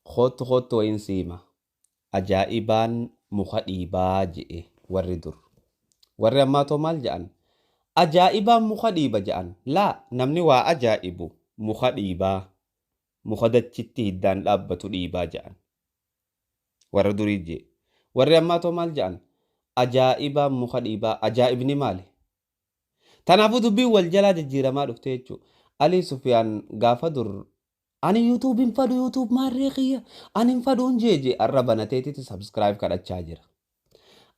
Koottu koottu wayiin si hima. Ajaa'ibaan muka dhiibaa je'e warri dur. Warri ammaa too maal ja'an? Ajaa'ibaan muka dhiiba ja'an. Laa, namni waa ajaa'ibu muka dhiibaa, muka dachitti hiddaan dhaabbatu dhiibaa ja'an. Warra durii je'e. Warri ammaa too maal ja'an? Ajaa'ibaan muka dhiibaa. Ajaa'ibni maali? Tanaafuu dubbiin wal jalaa jijjiiramaa dhufte jechuu. Alii Sufyaan gaafa dur Ani YouTube hin fadhu YouTube maarree kiyya ani hin fadhuun jee jee arra banateetiti subscribe kadhachaa jira.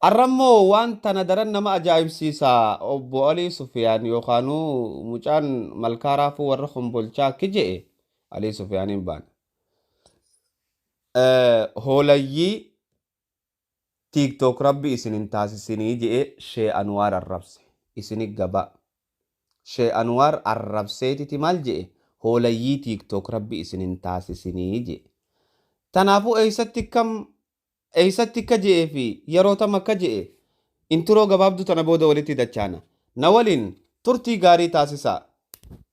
Arra immoo waan tana daran nama ajaa'ibsiisa obbo Alii Sufiyaan yookaanuu mucaan malkaa raafuu warra kombolchaa akki je'e Alii Sufiyaaniin baana. Hoolayyii Tik tok rabbi isin hin taasisini je'e shee anuwaar arrabse isini gaba shee anuwaar arrabseetiti mal je'e hoolayyii tik tok rabbi isin hin taasisini je'e tanaafu eysatti kam eysatti kka je'e fi yeroo tam akka je'e intiroo gabaabdu tana booda walitti dachaana na waliin turtii gaarii taasisaa.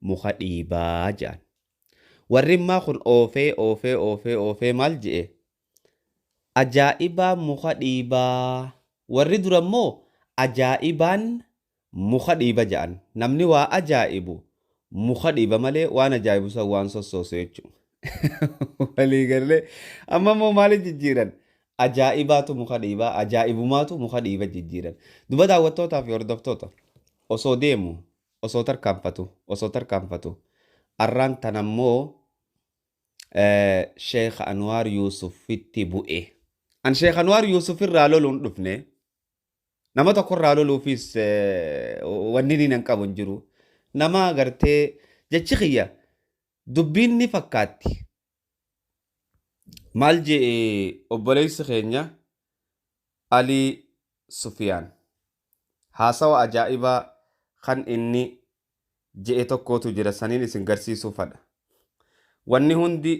muka dhiibaa ja'an. Warrimmaa kun oofee oofee oofee oofee maal je'e? Ajaa'ibaa muka dhiibaa. Warri dura immoo ajaa'ibaan muka dhiiba ja'an. Namni waa ajaa'ibu muka dhiiba malee waan ajaa'ibu san waan sossoosu jechuudha. Walii gallee amma immoo maali jijjiiran? Ajaa'ibaatu muka dhiiba, ajaa'ibumaatu muka dhiiba jijjiiran. Duba daawwattootaa fi hordoftoota osoo deemu Osoo tarkaanfatu osoo tarkaanfatu arraan tana immoo Sheekh Anwaar Yuusuffitti bu'e. An Sheekh Anwaar Yuusufirraa loluu hin dhufne. Nama tokkorraa loluufis wanni inni nan qabu hin jiru. Nama gartee jechi kiyya dubbiin ni fakkaatti. Maal je'e obboleessi keenya Alii Sufiyaan? Haasawa ajaa'ibaa kan inni je'e tokkootu jira saniin isin garsiisuu fadha. Wanni hundi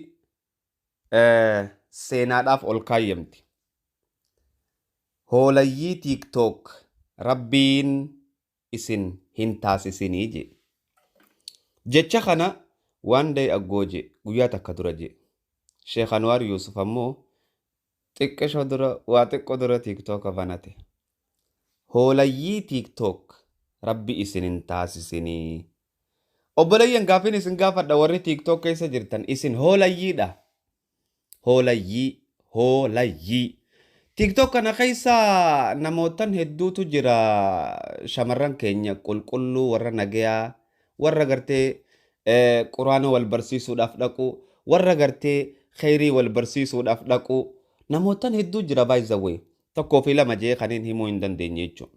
seenaadhaaf ol kaayyamti. Hoolayyii TikTok rabbiin isin hin taasisini je. Jecha kana one day ago je, guyyaa takka dura je. Sheikh Anwaar Yuusuf ammoo xiqqisho dura waa xiqqo dura TikTok banate. Hoolayyii TikTok rabbi isin hin taasisini. Obboleeyyan gaaffiin isin gaafadha warri TikTok keessa jirtan isin hoolayyiidha? Hoolayyii, hoolayyii. Tiktok kana keessa namoottan hedduutu jira shamarran keenya qulqulluu warra nagayaa warra gartee eh, quraana wal barsiisuudhaaf dhaqu warra gartee kheyrii wal barsiisuudhaaf dhaqu namoottan hedduu jira by the way tokkoo fi lama jee kaniin himuu hin dandeenye jechuudha.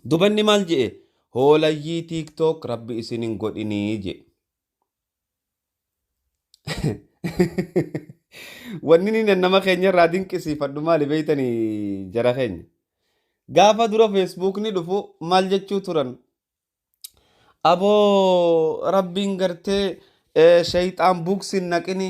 Dubanni maal je'e? Hoolayyii TikTok rabbi isin hin godhinii je'e. Wanni inni nama keenya irraa dinqisiifadhu maali beektanii jara keenya. Gaafa dura feesbuukni dhufu maal jechuu turan? Aboo rabbiin gartee eh, shayxaan buuksiin naqini.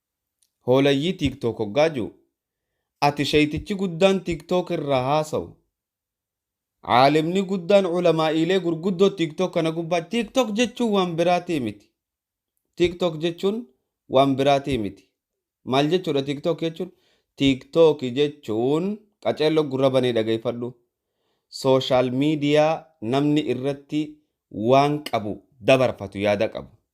Hoolayyii TikTok hoggaa ji'u, ati sheytichi guddaan TikTok irraa haasawu, aalimni guddaan ulamaa'iilee gurguddoo TikTok kana gubbaa, TikTok jechuun waan biraatii miti. TikTok jechuun waan biraatii miti. Maal jechuudha TikTok jechuun? TikTok jechuun qaceelloo gurra banee dhageeffadhu. Sooshaal miidiyaa namni irratti waan qabu dabarfatu, yaada qabu.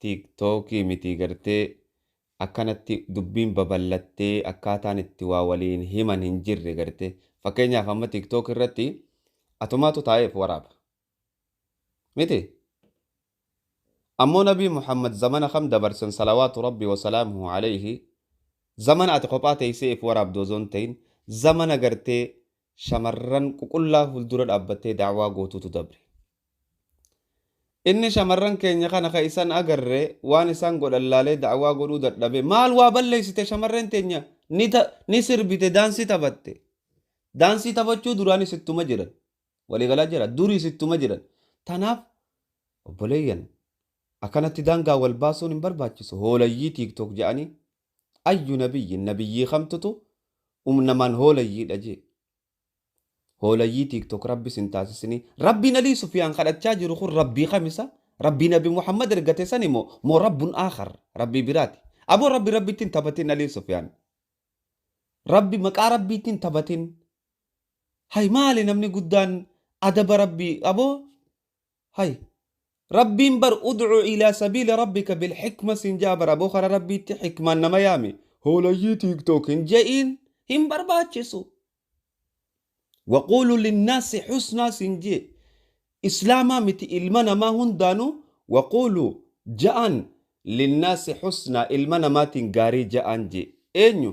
tik tok mitii gartee akkanatti dubbiin baballattee akkaataan itti waa waliin himan hin jirre garte fakkeenyaaf amma tik tok irratti atumaatu taa'ee of waraaba miti ammoo nabii muhammad zamana kam dabarsan salawaatu rabbi wasalaamuhu alayhi zamana ati kophaa teessee if waraabdu ozoon ta'in zamana gartee shamarran ququllaa fuldura dhaabbattee da'waa gootuutu dabre. Inni shamarran keenya kana ka isan agarre waan isaan godhan laalee da'waa godhuu dadhabee maal waa balleessite shamarreen teenya ni ni sirbite daansii taphatte daansii taphachuu duraanis ittuma jiran walii galaa jira duriis ittuma jiran tanaaf obboleeyyan akkanatti daangaa wal baasuun hin barbaachisu hoolayyii tiiktook ja'anii Ayyu nabiyyin nabiyyii kamtutu um namaan hoolayyiidha jee hoolayyii tiktok rabbi sin taasisinii rabbiin alii sufiyaan kadhachaa jiru kun rabbii kamisa rabbii nabi muhammad ergate sani moo moo rabbun aakar rabbii biraati aboo rabbi rabbitti hin taphatin alii sufiyaan rabbi maqaa rabbiitti hin taphatin hay maali namni guddaan adaba rabbii aboo hay rabbiin bar udcu ilaa sabiili rabbika bilxikma siin ja'a bar aboo kara rabbiitti xikmaan nama yaami hoolayyii tiktok hin ja'iin hin barbaachisu waquulu linnaasi xusnaa siin jee islaamaa miti ilma namaa hundaanu waquulu ja'an linnaasi xusnaa ilma namaatiin gaarii ja'aan jee eenyu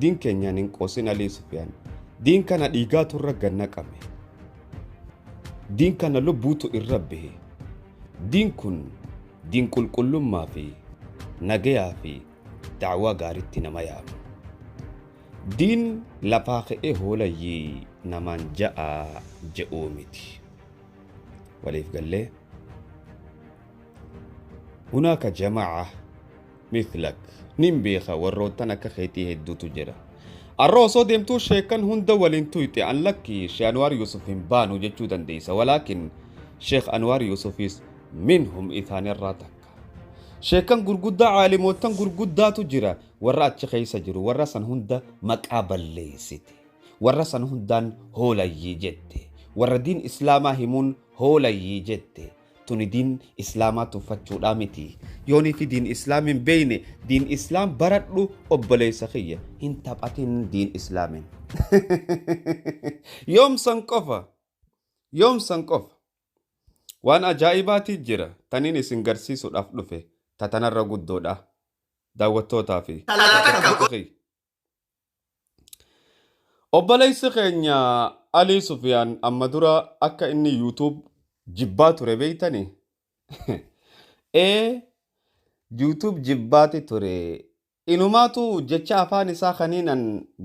Diin keenyaan hin qoosin Alii Sufiyaan. Diin kana dhiigaatu irra gad naqame. Diin kana lubbuutu irra bahe. Diin kun diin qulqullummaa fi nagayaa fi da'waa gaariitti nama yaama. Diin lafaa ka'ee hoolayyii namaan ja'aa je'uu miti. Waliif gallee. Hunaaka jamaa'a mithlak nin beeka warroottan akka keetii hedduutu jira arra osoo deemtuu sheekan hunda waliin tuyxe an lakki she anwaar yuusuf hin baanu jechuu dandeeysa walaakin sheek anwaar yuusufiis minhum isaanirraa takka sheekan gurguddaa caalimoottan gurguddaatu jira warra achi keeysa jiru warra san hunda maqaa balleeysite warra san hundaan hoolayyii jette warra diin islaamaa himuun hoolayyii jette tuni diin islaamaa tuffachuudhaa miti yooniifi diin islaam hin beeyne diin islaam baradhu obboleessa kiyya hin taphatin diin islaamin yoomsan qofa yoomsan qofa waan ajaa'ibaatii jira taniin isin garsiisuudhaaf dhufe tatanarra guddoodha daawwattootaa fi Xalayaa takka go- Obboleessi keenya Alii Sufiyaan amma dura akka inni YouTube jibbaa ture beektani? Ee YouTube jibbaati ture. Inumaatu jecha afaan isaa kaniinan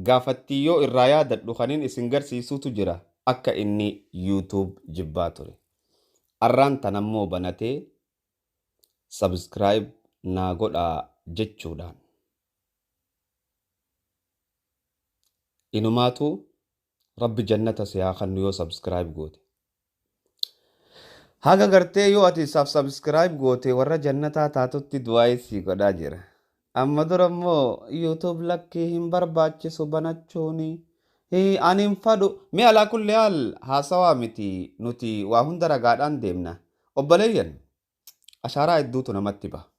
gaafattii yoo irraa yaadadhu kaniin isin garsiisuutu jira akka inni YouTube jibbaa ture. Arraan tanammoo banatee subscribe naa godhaa jechuudhaan. Inumaatu rabbi jannata si haa kannu yoo subscribe goote. Haga gartee yoo ati sab subscribe goote warra jannataa taatutti du'aayii sii godhaa jira. Amma dura immoo YouTube lakkii hin barbaachisu banachuuni. Hii ani hin fadhu. Mee alaa kulli haal haasawaa miti nuti waa hunda ragaadhaan deemna. Obboleeyyan ashaaraa hedduutu namatti baha.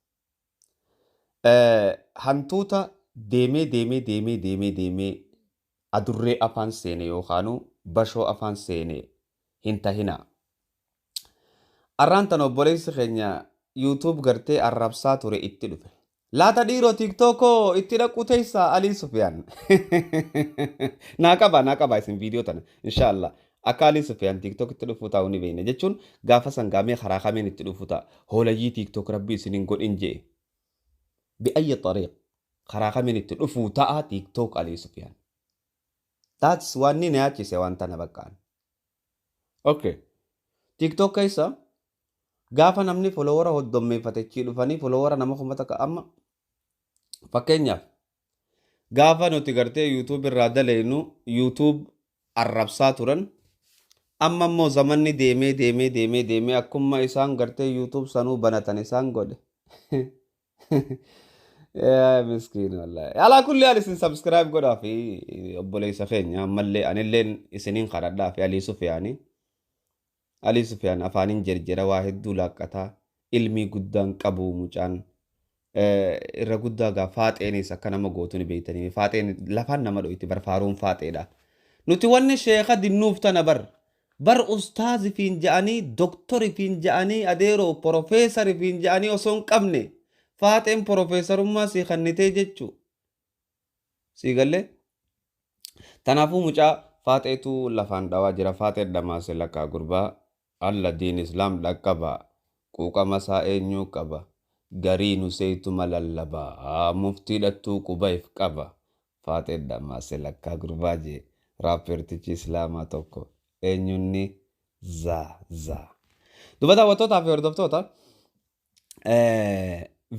Eh, Hantuuta deemee deemee deemee deemee deemee adurree afaan seene yookaanuu bashoo afaan seene hin tahinaa. Arraan tan obboleessi keenya YouTube gartee arrabsaa ture itti dhufe. Laata dhiiroo tiktok koo itti dhaquu teessaa Alii Sufiyaan. Naa qaba naa qaba isin viidiyoo tana inshaallah. Akka Alii Sufiyaan tiktok itti dhufuu taa'u ni beekna jechuun gaafa sangaamee karaa kameen itti dhufuu ta'a. Hoolayyii tiktok rabbi isin hin godhin je'e. Bi'ayyi xariiq karaa kameen itti dhufuu ta'a tiktok Alii Sufiyaan. That's waan ni nayaachise waan tana baqqaan. Okay. TikTok keessa gaafa namni folowara hoddommeeffate achii dhufanii folowara nama kuma takka amma fakkeenyaaf gaafa nuti gartee YouTube irraa daleenu YouTube arrabsaa turan amma immoo zamanni deemee deemee deemee deemee akkuma isaan gartee YouTube sanuu banatan isaan godhe Yaa miskiin wallahi. Alaa kulli haal isin subscribe godhaa fi obboleessa keenya ammallee anilleen isiniin kadhadhaa fi Alii Sufiyaanii. Alii Sufiyaan afaaniin jerjera waa hedduu laaqqataa ilmii guddaan qabu mucaan Eh, irra guddaa gaa faaxeenis akka nama gootu ni beektanii faaxeen lafaan nama dhoyti bar faaruun faaxeedha. Nuti wanni sheeka dinnuuf tana bar Bar ustaaz ifiin ja'anii doktor ifiin ja'anii adeeroo porofeesar ifiin ja'anii osoo hin qabne faaxeen porofeesarummaa sii kannitee jechuu sii gallee tanaafuu mucaa faaxeetu lafaan dhawaa jira faaxeen dhamaase lakkaa gurbaa alla diin islaam dhaqqaba quuqama isaa eenyuu qaba garii nu seeytuma lallaba muftii dhattuu quba if qaba Faaxee Dhammaa Selakkaa Gurbaa jee Raappeertichi Islaamaa tokko Eenyunni Zaa Zaa. Duba daawwattootaa fi hordoftoota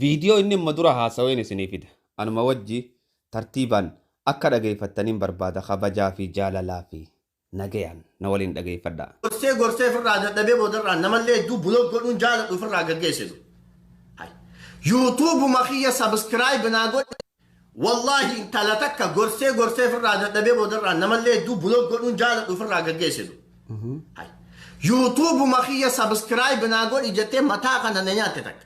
viidiyoo inni amma dura haasaween isinii fida. Anuma wajji tartiibaan akka dhageeffattaniin barbaada kabajaa fi jaalalaa fi Nagayaan na waliin dhageeffadhaa. Gorsee gorsee firraa dadhabee boodarraan namallee hedduu block godhuun jaaladhu firraa gaggeessitu. Hay. Yuutuubuma kiyya subscribe naa godhi. Wallaahi intala takka gorsee gorsee firraa dadhabee boodarraan namallee hedduu block godhuun jaaladhu firraa gaggeessitu. Hay. Yuutuubuma kiyya subscribe naa godhi jettee mataa kana na nyaatte takka.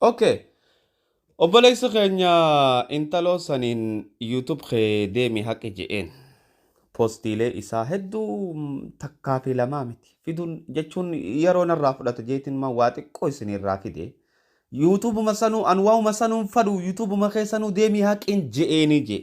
Okay. Obboleessa keenya intaloo saniin YouTube kee deemi haqi je'een. Postiilee isaa hedduu takkaa fi lamaa miti. Fiduun jechuun yeroo narraa fudhata jeetiin maa waa xiqqoo isinirraa fide. YouTube ma sanuu an waa'uma sanuun fadhu YouTube ma kee sanuu deemi haqiin je'eenii jee.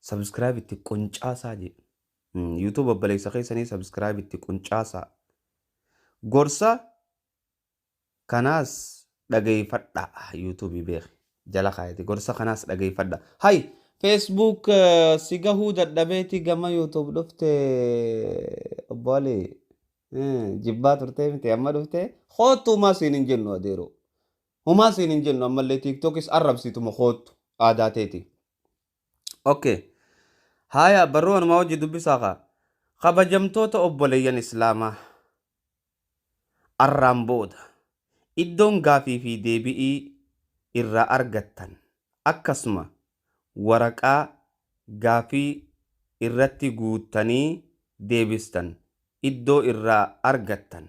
Subscribe itti quncaasaa je. YouTube obboleessa keessanii subscribe itti quncaasaa. Gorsa kanaas dhageeffadha YouTube beeki. Jala kaayati gorsa kanaas dhageeffadha. Hay Facebook eh, si gahuu dadhabeeti gama YouTube dhufte obbo Ali. Eh, Jibbaa turtee miti amma dhufte koottu humaa siin hin jennu adeeroo. Humaa siin hin jennu ammallee TikTokis arrabsiituma koottu aadaa teeti. Okay. Haya barruu anumaa wajji dubbisaa kaa. Kabajamtoota obboleeyyan Islaamaa arraan booda iddoon gaafii fi deebi'ii irraa argattan akkasuma waraqaa gaafii irratti guuttanii deebistan iddoo irraa argattan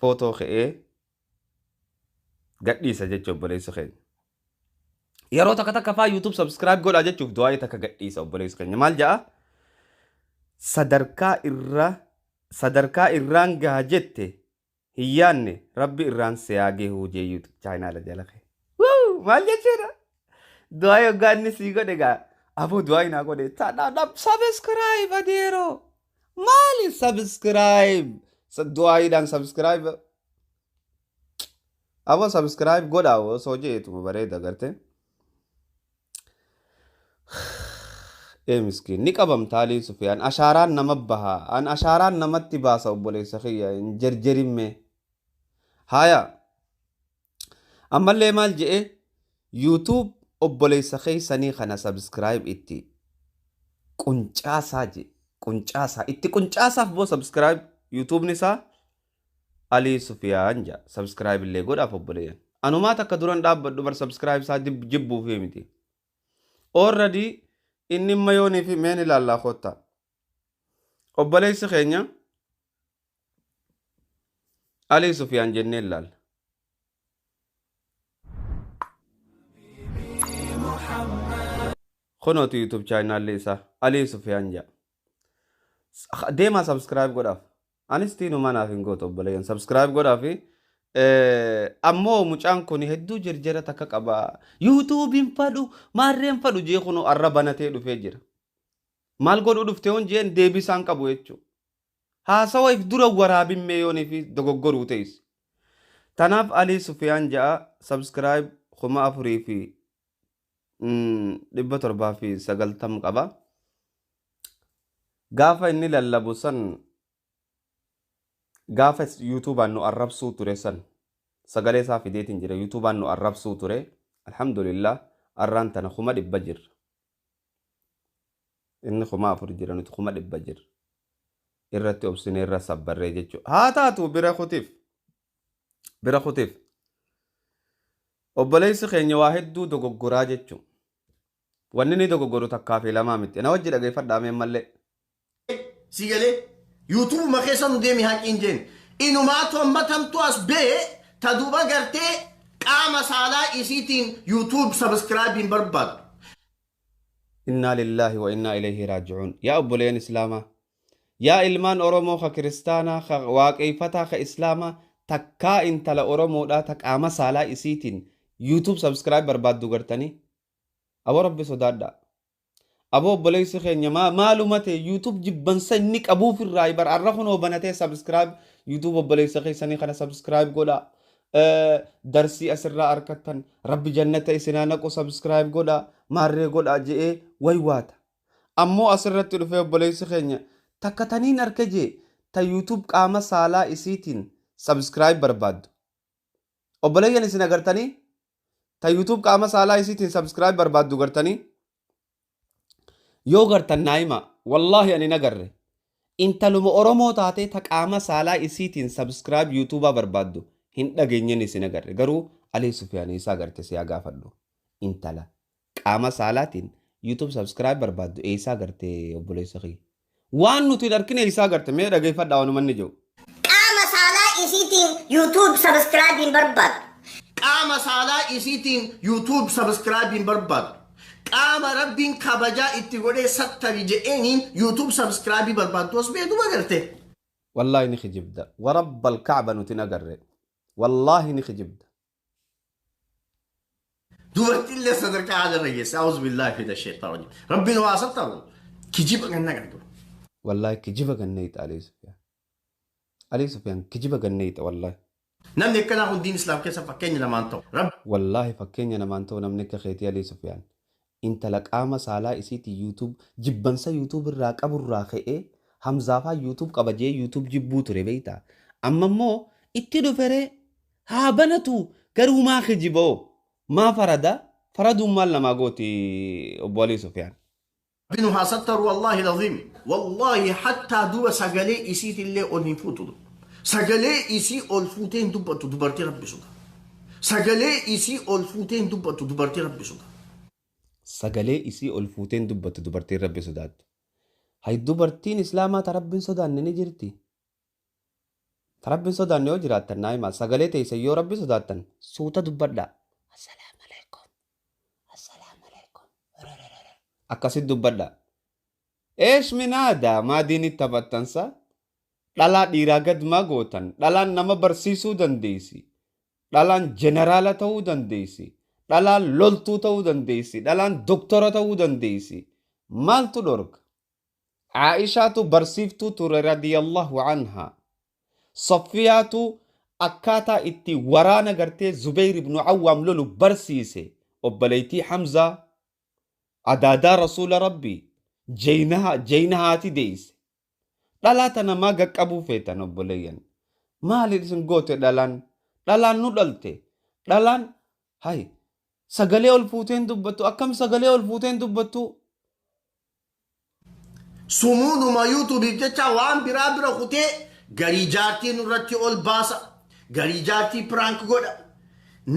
footoo ka'ee gadhiisa jecha obboleessi keenya. Yeroo takka takka faa YouTube subscribe godhaa jechuuf du'aa'ii takka gadhiisa obboleessi keenya. Maal ja'a? Sadarkaa irra sadarkaa irraan gaha jette hin yaanne rabbi irraan siyaa gahuu jee YouTube chaayinaala jala kee. Wuu! Maal jechuudha? Du'aa'ii hoggaa inni sii godhe gaa aboo du'aa'ii naa godhe taadhaa dhab subscribe adeeroo. Maali subscribe du'aayiidhaan subscribe abo subscribe godha osoo jeetuma bareeda garte. Ee miskiin ni qabamta Alii Sufiyaan ashaaraan nama baha an ashaaraan namatti baasa obboleessa kiyya hin jerjerimme. Haya Ammallee maal je'e YouTube obboleessa keessanii kana subscribe itti quncaasaa je'e. Quncaasaa. Itti quncaasaaf boo subscribe YouTube'n isaa Alii Sufiyaan ja'a. Subscribe illee godhaaf obboleeyyan. Anumaa takka duran dhaabbadhu bar subscribe isaa dib- jibbuufii miti. Already inni mayoonii fi meen ilaallaa koottaa. Obboleessi keenya Alii Sufiyaan jennee ilaalla. Kunooti YouTube chaayinaalli isaa Alii Sufiyaan jedha. Deemaa subscribe godhaaf. Anis tiinumaa naaf hin gootu obboleeyyan subscribe godhaaf. Ammoo mucaan kun hedduu jirjira takka qaba. YouTube hin fadhu maarree hin fadhu jee kunoo arra banatee dhufee jira. Maal godhuu dhufte hoon jeen deebisaan qabu jechuudha. Haasawa if dura waraabin mee yoo nifi dogogoru teys. Tanaf Ali sufiyaan ja'a subscribe kuma afurii fi dhibba torbaa fi sagaltam qaba. Gaafa inni lallabu san gaafa yuutuubaan nu arrabsuu ture san sagalee isaa fideetiin jira yuutuubaan nu arrabsuu ture alhamdulillah arraan tana kuma dhibba jirra. Inni kuma afur jira nuti kuma dhibba jirra. Irratti obsinee irra sabbarree jechuudha. Haa taatu bira kutiif. Bira kutiif. Obboleessi keenya waa hedduu dogoggoraa jechuudha. Wanni inni dogoggoru takkaa fi lamaa miti. Na wajji dhageeffadhaa mee mallee. si galee yuutuubu ma keessa nu deemi haqii hin jeen inumaatu amma tamtu as bee ta duba gartee qaama saalaa isiitiin yuutuub sabiskiraabii hin barbaadu innaa lillaahi wa innaa ilayhi raaji'uun yaa obboleen islaamaa yaa ilmaan oromoo ka kiristaanaa ka waaqeeffataa ka islaamaa takkaa intala oromoodhaa ta qaama saalaa isiitiin yuutuub sabiskiraayib barbaaddu gartanii abo rabbi sodaadhaa Aboo obboleessi keenya maa maaluma ta'e YouTube jibbansa inni qabuuf irraa bar arra kunoo banatee subscribe YouTube obboleessa keessanii kana subscribe godha Eh, darsii asirraa arkattan rabbi jannata isinaa naqu subscribe godha maarree godha je'ee waywaata ammoo asirratti dhufee obboleessi keenya takka taniin arke jee ta YouTube qaama saalaa isiitiin subscribe barbaaddu obboleeyyan isin agartanii ta youtube qaama saalaa isiitiin subscribe barbaaddu gartanii yoo gartan naa himaa wallaahi ani na garre intaluma oromoo taatee ta qaama saalaa isiitiin subscribe youtubaa barbaaddu hin dhageenyen isin agarre garuu alii sufiyaanii isaa garte siyaa gaafadhu intala Qaama saalaatiin YouTube subscribe barbaaddu eessaa garte obboleessa kiyya? Waan nuti hin arkin eessaa garte mee dhageeffadhaa waanuma inni jedhu. Qaama saalaa isiitiin YouTube subscribe hin barbaaddu. Qaama saalaa isiitiin YouTube subscribe hin barbaaddu. Qaama Rabbiin kabajaa itti godhee sattari jedheeniin YouTube subscribe barbaaddu as beeku magarte. Wallaahi ni kijibda. Warabbal Ka'ba nuti hin agarre. Wallaahi ni kijibda. Dubartiin illee sadarkaa haala irra geesse. Awuz billaa fi dashee ta'u. Rabbiin waa sattaru. Kijiba ganna qabdu. Wallaahi kijiba ganneeyta Alii Sufiyaan. Alii Sufiyaan kijiba ganneeyta wallaahi. Namni akkanaa kun diin Islaam keessa fakkeenya namaan ta'u. Rabbi. Wallaahi fakkeenya namaan ta'u namni akka keetii Alii Sufiyaan. Intala qaama saalaa isiitiin YouTube jibbansa YouTube irraa qabu irraa ka'ee Hamzaa faan YouTube qaba je'ee YouTube jibbuu ture beeytaa? Amma immoo itti dhufe ree? Haa banatu garuu maa kijiba hoo? Maa farada? Faraduun maal namaa gooti Obbo Alii Sufiyaan? Rabbi nu haa sattaru wallahi lazim wallahi hattaa duba sagalee isiitillee ol hin fuutu du. Sagalee isii ol fuutee hin dubbattu dubartii rabbi sodaattu. Sagalee isii ol fuutee hin dubbattu dubartii Rabbi sodaattu. Sagalee isii ol fuutee hin dubbattu dubartiin Rabbi sodaattu. Hay dubartiin Islaamaa ta Rabbi hin sodaanne ni jirti? Ta Rabbi hin sodaanne yoo jiraattan naa himaa. Sagalee teeysan yoo Rabbi sodaattan suuta dubbadhaa. Assalaamu aleykum. Assalaamu aleykum. Rrrrrrr. Akkasitti dubbadhaa. Eesh min haadaa? Maa diinitti taphattan saa? Dhalaa dhiiraa gad maa gootan? Dhalaan nama barsiisuu dandeessi. Dhalaan jeneraala ta'uu dandeessi. Dhalaan loltuu ta'uu dandeessi. Dhalaan doktora ta'uu dandeessi. Maaltu dhorka? Aa'ishaatu barsiiftuu ture radiyallahu anhaa. Saffiyaatu akkaataa itti waraana gartee Zubeyr ibnu Awwaam lolu barsiise. Obboleeytii Hamzaa, adaadaa Rasuula Rabbii, Jeynaha, Jeynahaati deeyse. Dhalaa tana maa gaqqabuu feetan obboleeyyan? Maali isin goote dhalaan? Dhalaan nu dhalte. Dhalaan hay sagalee ol fuutee hin dubbattu akkam sagalee ol fuutee hin dubbattu? Sumuudhuma yuutuubiif jecha waan biraa bira kutee garii jaartii nurratti ol baasa. Garii jaartii prank godha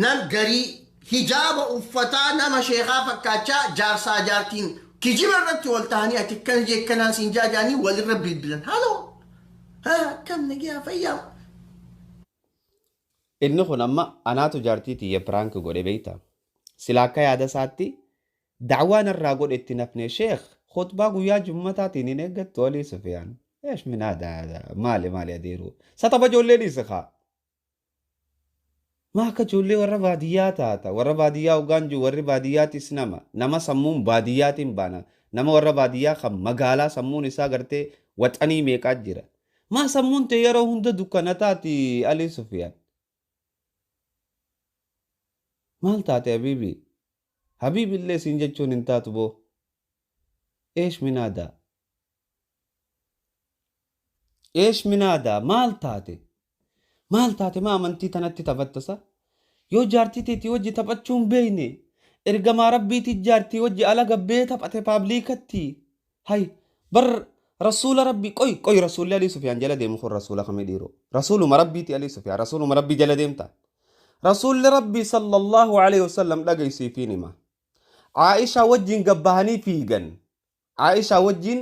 nam garii hijaaba uffataa nama sheekaa fakkaachaa jaarsaa jaartiin kijiba irratti wal tahanii ati akkana jee akkanaa siin jaa jaanii walirra bilbilan haloo haa akkam nagiyaa fayyaa Inni kun amma anaatu jaartii tiyya piraank godhe beekta. Sila akka yaada isaatti Da'waa narraa godhe itti hin hafne sheikh khutbaa guyyaa jummataatiin hin eeggattu alii sufiyaan eesh min hada hada maali maali adeeru sa tapha ijoollee dhiisi kaa maa akka ijoollee warra baadiyyaa taata warra baadiyyaa hoggaan jiru warri baadiyyaatis nama nama sammuun baadiyyaatiin baana nama warra baadiyyaa kan magaalaa sammuun isaa gartee waxanii meeqaa jira maa sammuun tee yeroo hunda dukkana taati alii sufiyaan maal taate abiibii Habibi illee siin jechuun hin taatu boo Eesh minaadaa Eesh minaadaa maal taate maal taate maa amantii tanatti taphatta sa yoo jaartii teetii wajji taphachuu hin beeyne ergamaa rabbiitii jaartii wajji ala gabbee taphate paabliikatti Hay bar rasuula rabbii qoy qoy rasuulli alii sufiyaan jala deemu kun rasuula kami dhiiro rasuuluma rabbiiti alii sufiyaan rasuuluma rabbii jala deemta rasuulli rabbii sallallahu alaihi wasallam dhagaysiifiin hima Aisha wajjin gabbahanii fiigan Aisha wajjin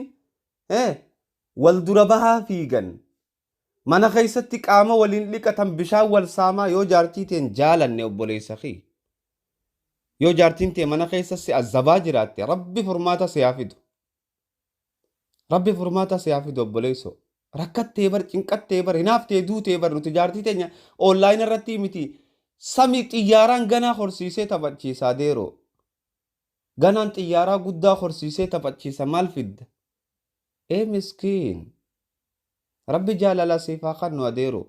eh wal dura bahaa fiigan Mana keessatti qaama waliin dhiqatan bishaan wal saamaa yoo jaartii teen jaalanne obboleessa kiyya. Yoo jaartiin tee mana keessa si azabaa jiraatte rabbi furmaata si haa fidu. Rabbi furmaata si haa fidu obboleessoo. Rakkattee bar cinqattee bar hinaaftee duutee bar nuti jaartii teenya online irratti miti samii xiyyaaraan ganaa horsiisee taphachiisaa deeroo. Ganaan xiyyaaraa guddaa horsiisee taphachiisa maal fidda? Ee miskiin. Rabbi jaalala siif haa kannu adeero.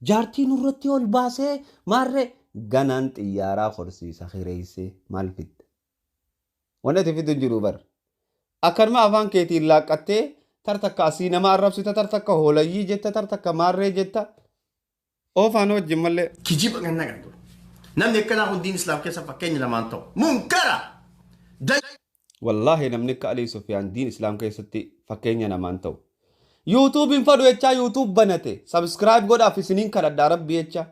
Jaartii nurratti ol baasee maarree ganaan xiyyaaraa korsiisa kireessee maal fidda? Wanni ati fiddu hin jiru bar. Akkanuma afaan keetiin laaqqattee tar takka asii nama arrabsita tar takka hoolayyii jetta tar takka maarree jetta. Oo faanoo wajjin mallee. kijiba ganna kan ture. Namni akkanaa kun diin Islaam keessa fakkeenya lamaan ta'u. Munkara! Da- Wallaahi namni akka Alii Sufiyaan diin Islaam keessatti fakkeenya namaan ta'u. YouTube hin fadhu jechaa YouTube banate. Subscribe godhaaf isiniin kadhadhaa rabbi jecha.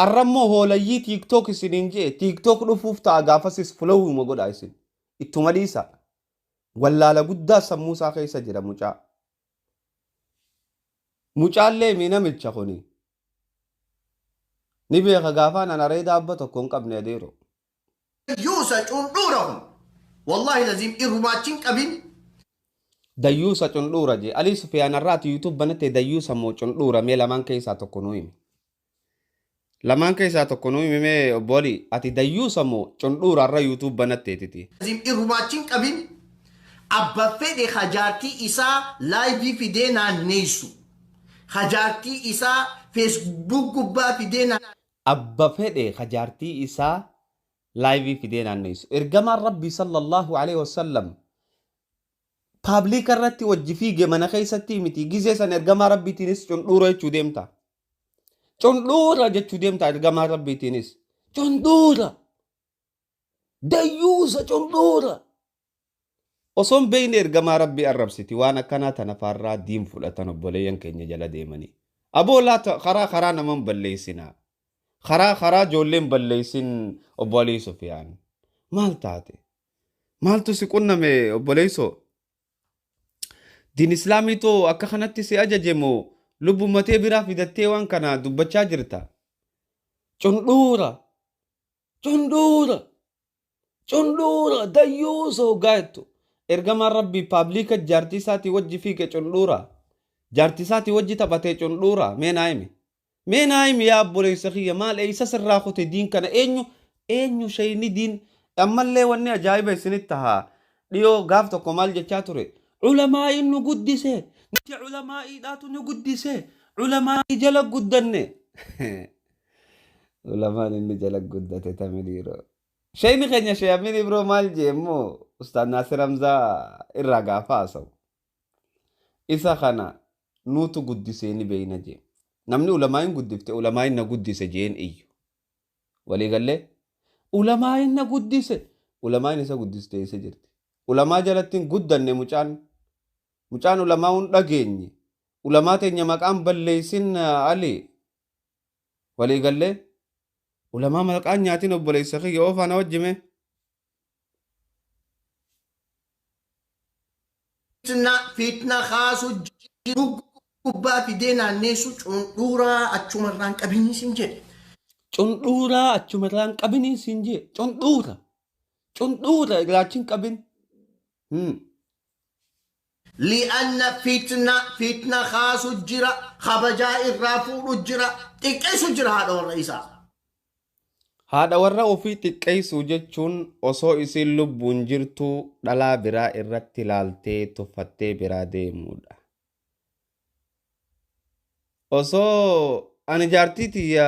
Arrammoo hoolayyii TikTok isiniin je'e TikTok dhufuuf ta'a gaafasis followuma godhaa isin. Ittuma dhiisaa. Wallaala guddaa sammuu isaa keessa jira mucaa. Mucaallee mii namicha kuni ni beeka gaafaan an areeda abba tokko hin qabne adeero. Dayyuusa cundhuura kun wallahi laziim irrumaa achi hin qabin. Dayyuusa cundhuura jee. Alii sufiyaan arraati youtube banattee dayyuusa moo cundhuura mee lamaan keessaa tokko nuu himi. Lamaan keessaa tokko nuu himi mee obbo Alii. Ati dayyuusa moo cundhuura arra youtube banatteetiti. Azim irrumaa achi hin qabin abba fedhe ha jaartii isaa live fidee naanneessu ha jaartii isaa facebook gubbaa fidee naanneessu. Abba fedhe ha jaartii isaa live fidee naanneessu. Ergamaan rabbii sallallahu aleyh wassallam public irratti wajji fiige mana keessatti miti gizee san ergamaa rabbiitiinis cundhuura jechuu deemta. Condhoora jechuu deemta ergamaa rabbiitiinis. Condhoora. Dayyuusa condhoora. Osoon beeyne ergamaa rabbii arrabsiti waan akkanaa tana faarraa diin fudhatan obboleeyyan keenya jala deemanii. Aboo laata karaa karaa naman balleessinaa. Karaa karaa joolleen balleessin obbo Alii Sufiyaan. Maal taate? Maaltu si qunname obboleessoo? Diin Islaamii too akka kanatti si ajaje moo lubbumma tee biraa fidattee waan kana dubbachaa jirta? Cundhuura! Cundhuura! Cundhuura! Dayyuusa hoggaa jettu. Ergamaan Rabbii paabliika jaartii isaatii wajji fiige cundhuura. Jaartii isaatii wajji taphatee cundhuura. Mee naa himi. Mee naa himi yaa obboleessa kiyya maal eeysa sirraa kute diin kana eenyu eenyu sheeyni diin ammallee wanni ajaa'iba isinitti haa dhiyoo gaaf tokko maal jechaa ture ulamaa'iin nu guddise nuti ulamaa'iidhaatu nu guddise ulamaa'ii jala guddanne ulamaan inni jala guddate tami dhiiroo sheeyni keenya shee amiin ibroo maal jee immoo ustaad naasir hamzaa irraa gaafa haasawu isa kana nuutu guddisee ni beeyna jee. Namni ulamaa'iin guddifte ulamaa'iin na guddise je'een iyyu. Walii gallee? Ulamaa'iin na guddise! Ulamaa'iin isa guddiste eessa jirti? Ulamaa jalatti hin guddanne mucaan. Mucaan ulamaa'uu hin dhageenye. Ulamaa teenya maqaa hin balleeysin Alii. Walii gallee? Ulamaa maqaa hin nyaatin obboleeysa kiyya oofaa na wajji mee. fiitna kaasuu jiruu gubbaa fidee naanneessuu cundhuuraa achumarraan qabinii siin jedhe. Cundhuuraa achumarraan qabinii siin jedhe. Cundhuura. Cundhuura irraachin qabin. Hmm. Li'anna fitna fitna kaasu jira, kabajaa irraa fuudhu jira, xiqqeessu jira haadha warra isaa. Haadha warra ofii xiqqeessuu jechuun osoo isiin lubbuun jirtuu dhalaa biraa irratti laaltee tuffattee biraa deemuudha. Osoo ani jaartii tiyya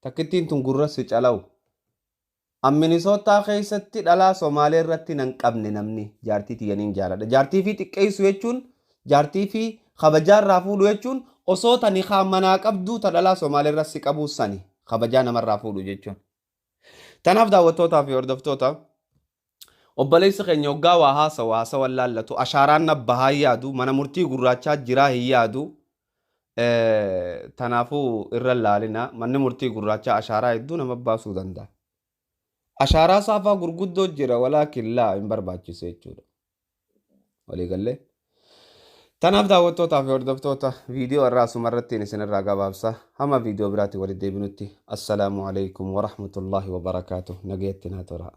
Takkittiin tun gurra si calaw. An Minisootaa keessatti dhalaa Somaalee irratti nan qabne namni jaartii tiyya nin jaaladha. Jaartii fi xiqqeessu jechuun jaartii fi kabajaa irraa fuudhu jechuun osoo ta nikaa manaa qabduu ta dhalaa Somaalee irra si qabuu sani kabajaa namarraa fuudhu jechuun. Tanaaf daawwattootaa fi hordoftoota Obboleessi keenya hoggaa waa haasawu haasawan laallatu ashaaraan na bahaa hin yaadu mana murtii gurraachaa jiraa hin yaadu tanaafuu irra hin laalina manni murtii gurraachaa ashaaraa hedduu nama baasuu danda'a. Ashaaraa saafaa gurguddoo jira walaakin laa hin barbaachisu jechuudha. Walii gallee. Tanaaf daawwattootaa fi hordoftoota viidiyoo irraa asuma irrattiin isinirraa gabaabsa. Hamma viidiyoo biraatti walitti deebinutti. Assalaamu alaikum wa rahmatullaahi wa barakaatu. Nagayatti naa turaa.